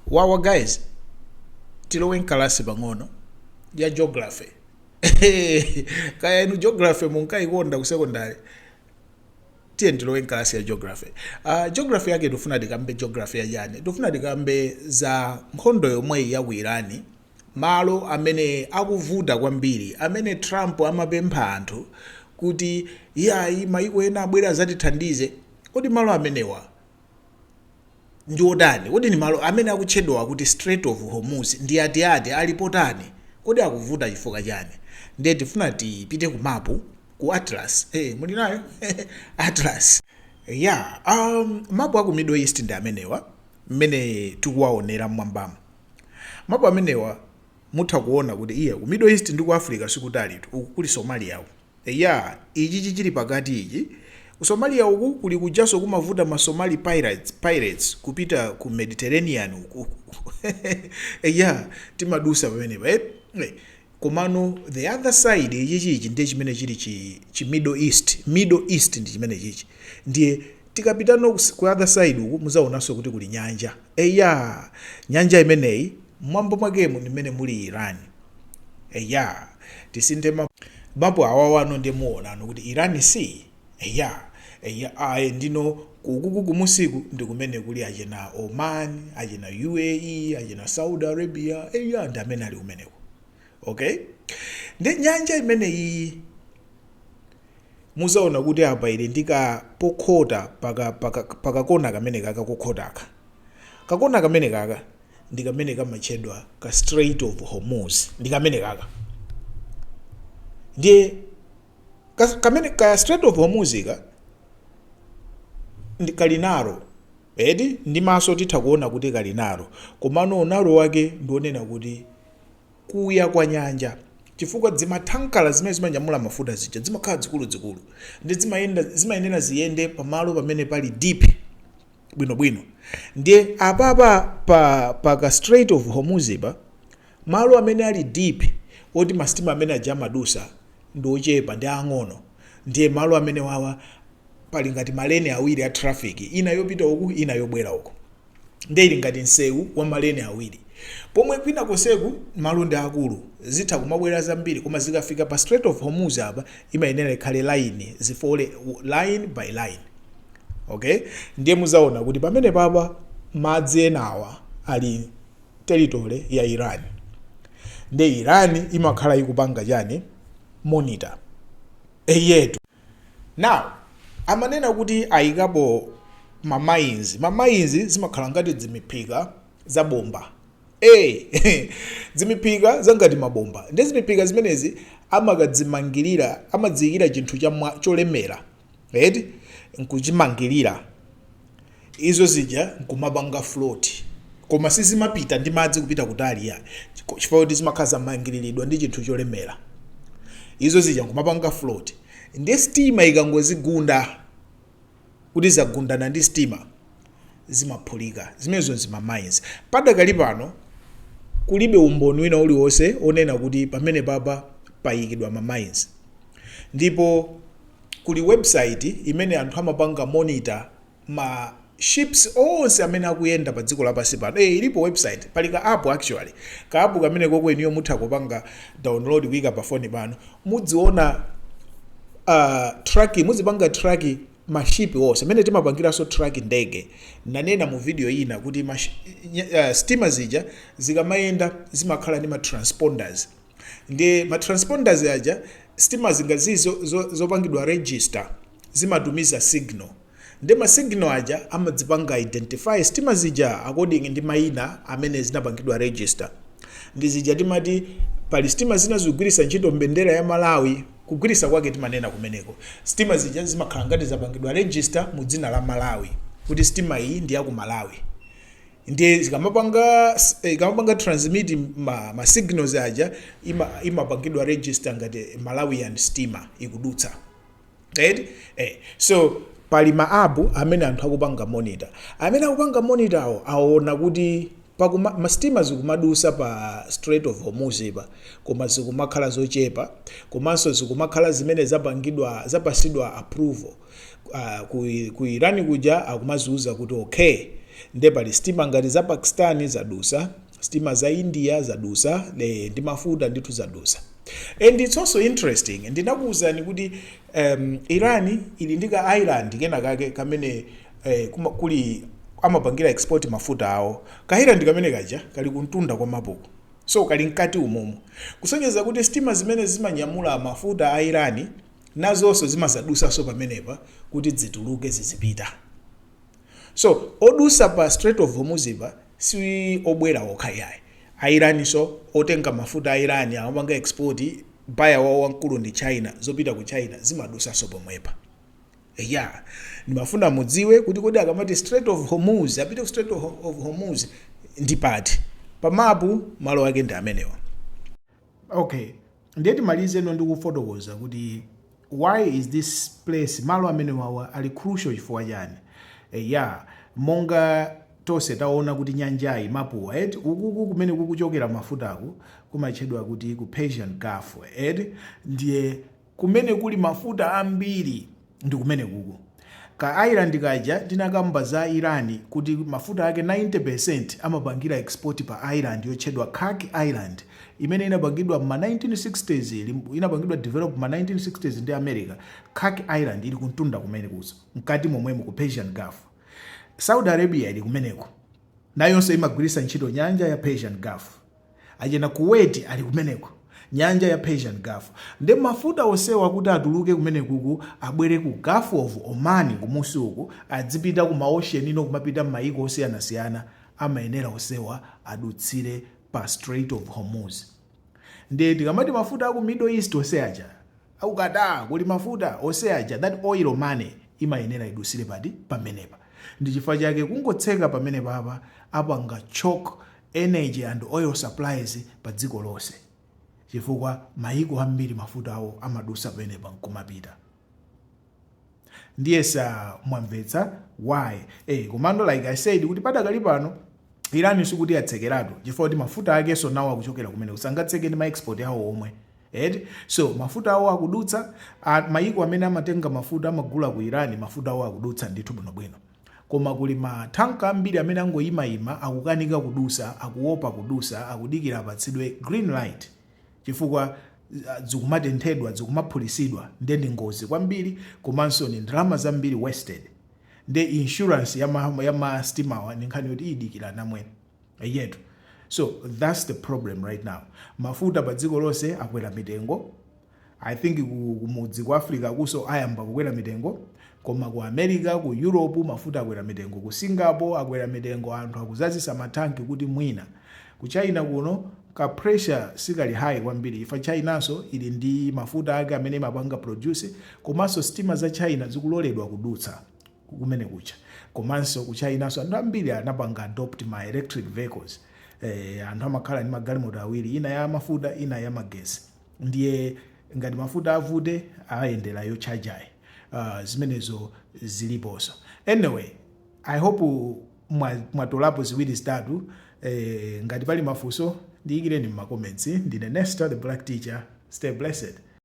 Wawa guys tilowe nkalasi pang'ono ya geography kaya inu geography munkayikonda ku secondary tiye tilowe nkalasi ya geography uh, geography yake tifuna tikambe geography ya chani tifuna tikambe za nkhondo yomweyi ya ku iran malo amene akuvuta kwambiri amene trump amapempha anthu kuti iyayi maiko ena abwere azatithandize kodi malo amenewa ndi otani? Kodi ndi malo amene akutchedwawa kuti Strait of Hormuz ndi ati ati? Ali potani? Kodi akuvuta chifukwa chani? Ndiye tifuna tipite ku mapu, ku Atlas, eh muli nayo? Atlas. Yeah, umm mapu aku Middle East ndi amenewa mmene tikuwaonera mmwambamu. Mapu amenewa mutha kuona kuti iyayi ku Middle East ndi ku Africa sikutalitu, uku kuli Somalia uku. Eya ichichi chili pakati ichi. Ku Somalia uku kuli kujanso kumavuta ma Somali pirates kupita ku Mediterranean uku eya timadusa pamenepa eti. Komano the other side ichichi ichi ndiye chimene chili chi chi Middle East ndi chimene chichi. Ndiye tikapitano ku other side uku muzaonanso kuti kuli nyanja. Eya nyanja imeneyi mmwamba mwakemu ndi mmene muli Iran. eya tisinthe mapu awawa no nde muwonano kuti iran si eya eya ayi ndino kukuku kumusiku ndikumene kuli achina oman achina uae achina saudi arabia eya ndi amene ali kumeneko okay nde nyanja imene iyi muzaona kuti apa ili ndika pokhota paka paka pakakona kamene kaka kokhotaka Kakona kamenekaka ndi kamene kamatchedwa ka Strait of Hormuz, ndi kamenekaka. Ndiye kameneka ka Strait of Hormuz ka kali narrow eti ndi maso titha kuona kuti kali narrow, komano u narrow wake ndi onena kuti kuya kwa nyanja chifukwa dzimathankala zimene zimanyamula mafuta zija dzimakhala dzikuludzikulu nde zimayenera ziyende pamalo pamene pali deep bwino bwino ndiye apapa pa pa ka strait of hormuz pa malo amene ali deep oti masitima amene aja amadusa ndi ochepa ndi ang'ono ndiye malo amene wawa pali ngati maleni awiri a traffic ina yopita uku ina yobwera uku nde ili ngati msewu wa maleni awiri pomwe kwina konseku malo ndi akulu zitha kumabwera zambiri koma zikafika pa strait of hormuz apa imayenera ikhale line zifole line by line okay ndiye muzaona kuti pamene papa madzi enawa ali territory ya iran nde iran imakhala ikupanga chani monitor eyetu now amanena kuti ayikapo ma mines ma mines zimakhala ngati dzimiphika za bomba e dzimiphika zangati mabomba nde dzimiphika zimenezi amakadzimangirira amadziyikira chinthu cholemera eti, nkuchimangirira izo zija nkumapanga float koma sizimapita ndi madzi kupita kutali ya chifukwa kuti zimakhala zamangiriridwa ndi chinthu cholemera izo zija nkumapanga float nde stima ikangozigunda kuti zagundana ndi stima zimaphulika. Zimenezo nzima mines. Padakali pano kulibe umboni wina uliwonse onena kuti pamenepapa payikidwa ma mines. Ndipo kuli website imene anthu amapanga monitor ma ships onse amene akuyenda pa dziko lapansi pano. Eh, ilipo website, pali ka app actually. Ka app kamene koko inuyo mutha kupanga download kuika pa phone pano. Mudziona uh, track, muzipanga track ma ship wose mene timapangiraso track ndege nanena mu video ina kuti ma uh, steamer zija zikamayenda zimakhala ndi ma transponders nde ma transponders aja steamer zingazo zopangidwa zo, zo register zimatumiza signal nde ma signal aja amadzipanga identify steamer zija according ndi maina amene zinapangidwa register nde zija timati pali steamer zina zikugwiritsa ntchito mbendera ya Malawi Kugwiritsa kwake timanena kumeneko sitima zija zimakhala ngati zapangidwa register mu dzina la Malawi kuti sitima iyi ndi ya ku Malawi ndiye zikamapanga ikamapanga transmit ma, ma signals aja ima, imapangidwa register ngati Malawian stima ikudutsa right eh, so pali ma app amene anthu akupanga monitor amene akupanga monitor awo aona kuti Pakuma, ma, sitima zikumadusa pa Strait of Hormuz pa, koma zikumakhala zochepa, komanso zikumakhala zimene zapangidwa, zapasidwa approval, ah, ku, ku Iran kuja akumaziuza kuti okay, nde pali sitima ngati za Pakistan zadusa, sitima za India zadusa, eeh, ndi mafuta ndithu zadusa. And it's also interesting, ndinakuuzani kuti, ehm, Iran ili ndi ka island kena kake kamene ee kuli amapangira export mafuta awo ka island kamene kaja kali kuntunda kwa mapuko so kali mkati umumu kusonyeza kuti stima zimene zimanyamula mafuta a iran nazonso zimazadusanso pamenepa kuti dzituluke zizipita so odusa pa strait of hormuz pa si obwera okha yayi a iran nso otenga mafuta a iran amapanga export buyer wawo wamkulu ndi china zopita ku china zimadusanso pomwepa Eya, ndimafuna mudziwe kuti kodi akamati Strait of Hormuz, apite ku Strait of of Hormuz ndi pati? Pa mapu malo ake ndi amenewa. Okay, ndiye timalizeno ndikufotokoza kuti why is this place malo amenewawa ali crucial chifukwa chani? Eya, monga tonse taona kuti nyanjayi mapuwo eti ukuku kumene kukuchokera mafutaku kumatchedwa kuti ku Persian Gulf eti ndiye Kumene kuli mafuta ambiri ndikumenekuko. Ka island kaja tinakamba za Iran kuti mafuta ake 90% amapangira export pa island yotchedwa Kharg Island imene inapangidwa mma 1960's inapangidwa develop mma 1960's ndi America. Kharg Island ili kumtunda kumene kuja mkati momwemu ku Persian Gulf. Saudi Arabia ili kumeneko nayonso imagwiritsa ntchito nyanja ya Persian Gulf. achina kuwait ali kumeneko nyanja ya persian gulf nde mafuta osewa kuti atuluke kumenekuku abwere ku gulf of oman kumusi uku adzipita ku ma ocean ino kumapita mmaiko osiyanasiyana amayenera osewa adutsire pa strait of hormuz nde tikamati mafuta aku middle east oseaja aku qatar kuli mafuta oseaja that oil money imayenera idusire pamenepa ndichifukwa chake kungotseka pamenepapa apanga choke energy and oil supplies pa dziko lonse chifukwa mayiko ambiri mafuta awo amadusa pamenepa nkumapita ndiyesa mwamvetsa why eh komano like i said kuti padakali pano iran sikuti yatsekeratu chifukwa kuti mafuta akenso nawo akuchokera kumeneku sangatseke ndi maexport awo omwe eti so mafuta awo akudutsa a- mayiko amene amatenga mafuta amagula ku iran mafuta awo akudutsa ndithu bwinobwino Koma kuli ma thanka ambiri amene angoyima yima akukanika kudusa akuwopa kudusa akudikira apatsidwe green light chifukwa zikumatenthedwa zikumaphulisidwa nde ndi ngozi kwambiri komanso ndi ndalama zambiri wasted nde insurance ya ma ya ma sitimawa ndi nkhani yoti idikira namwene eyetu so thats the problem right now mafuta pa dziko lonse akwera mitengo I think ku, kumudzi ku Africa akuso ayamba kukwera mitengo koma ku America ku Europe mafuta akwera mitengo ku Singapore akwera mitengo anthu akuzazisa matanki kuti mwina ku China kuno ka pressure sikali high kwambiri chifukwa Chinanso ili ndi mafuta ake amene imapanga produce komanso sitima za China zikuloledwa kudutsa kumene kuja komanso ku Chinanso anthu ambiri anapanga adopt ma electric vehicles eh, anthu amakhala ndi magalimoto awiri ina ya mafuta ina ya magesi ndiye ngati mafuta avute ayendera yotchajayi uh, zimenezo ziliposo anyway i hope mwatolapo ziwiri zitatu eh, ngati pali mafunso ndiyikireni mmacomments ndine nesta the black teacher stay blessed